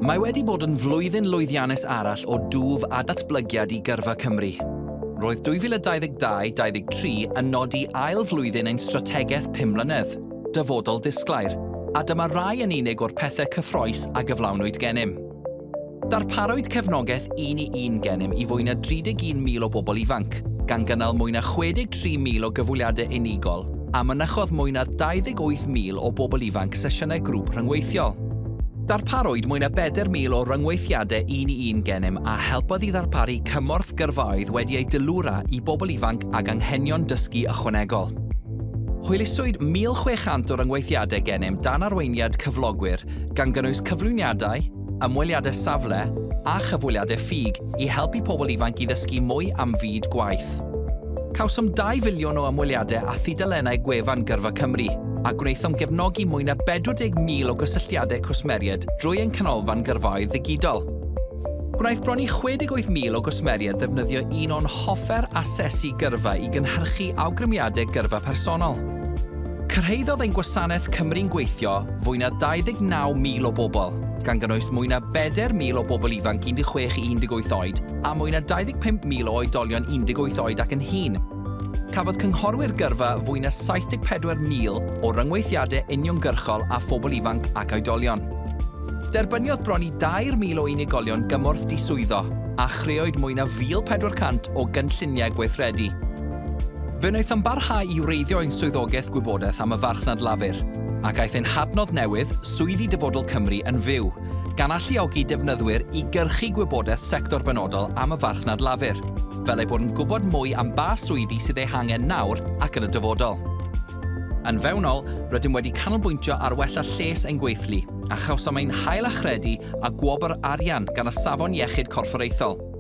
Mae wedi bod yn flwyddyn lwyddiannus arall o dwf a datblygiad i Gyrfa Cymru. Roedd 2022-23 yn nodi ail flwyddyn ein strategaeth 5 mlynedd, Dyfodol Disglair, a dyma rai yn unig o'r pethau cyffroes a gyflawnwyd gennym. Darparwyd cefnogaeth un i un gennym i fwy na 31,000 o bobl ifanc, gan gynnal mwy na 63,000 o gyfweliadau unigol, a mynychodd mwy na 28,000 o bobl ifanc sesiynau grŵp rhyngweithiol. Darparwyd mwy na 4,000 o ryngweithiadau un i un gennym a helpodd i ddarparu cymorth gyrfaoedd wedi ei deilwra i bobl ifanc ag anghenion dysgu ychwanegol. Hwyluswyd 1,600 o ryngweithiadau gennym dan arweiniad cyflogwyr gan gynnwys cyflwyniadau, ymweliadau safle a chyfweliadau ffug i helpu pobl ifanc i ddysgu mwy am fyd gwaith. Cawsom 2 filiwn o ymweliadau a thudalennau gwefan Gyrfa Cymru, a gwnaethom gefnogi mwy na 40,000 o gysylltiadau cwsmeriaid drwy ein canolfan gyrfaoedd ddigidol. Gwnaeth bron i 68,000 o gwsmeriaid ddefnyddio un o'n hoffer asesu gyrfa i gynhyrchu awgrymiadau gyrfa personol. Cyrhaeddodd ein gwasanaeth Cymru'n Gweithio fwy na 29,000 o bobl, gan gynnwys mwy na 4,000 o bobl ifanc 16 i 18 oed a mwy na 25,000 o oedolion 18 oed ac yn hŷn. Cafodd cynghorwyr gyrfa fwy na 74,000 o ryngweithiadau uniongyrchol â phobl ifanc ac oedolion. Derbyniodd bron i 2,000 o unigolion gymorth diswyddo, a chreoed mwy na 1,400 o gynlluniau gweithredu. Fe wnaethom barhau i wreiddio ein swyddogaeth gwybodaeth am y farchnad Lafur, ac aeth ein hadnodd newydd, Swyddi Dyfodol Cymru, yn fyw, gan alluogi defnyddwyr i gyrchu gwybodaeth sector benodol am y farchnad Lafur, fel eu bod yn gwybod mwy am ba swyddi sydd eu hangen nawr ac yn y dyfodol. Yn fewnol, rydym wedi canolbwyntio ar wella lles ein gweithlu, a chawsom ein hail-achredu â gwobr arian gan y Safon Iechyd Corfforaethol.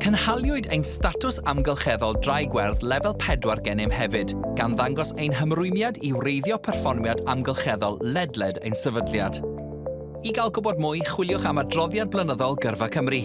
Cynhaliwyd ein Statws Amgylcheddol Drai Gwerth Lefel 4 gennym hefyd, gan ddangos ein hymrwymiad i wreiddio perfformiad amgylcheddol ledled ein sefydliad. I gael gwybod mwy, chwiliwch am adroddiad blynyddol Gyrfa Cymru.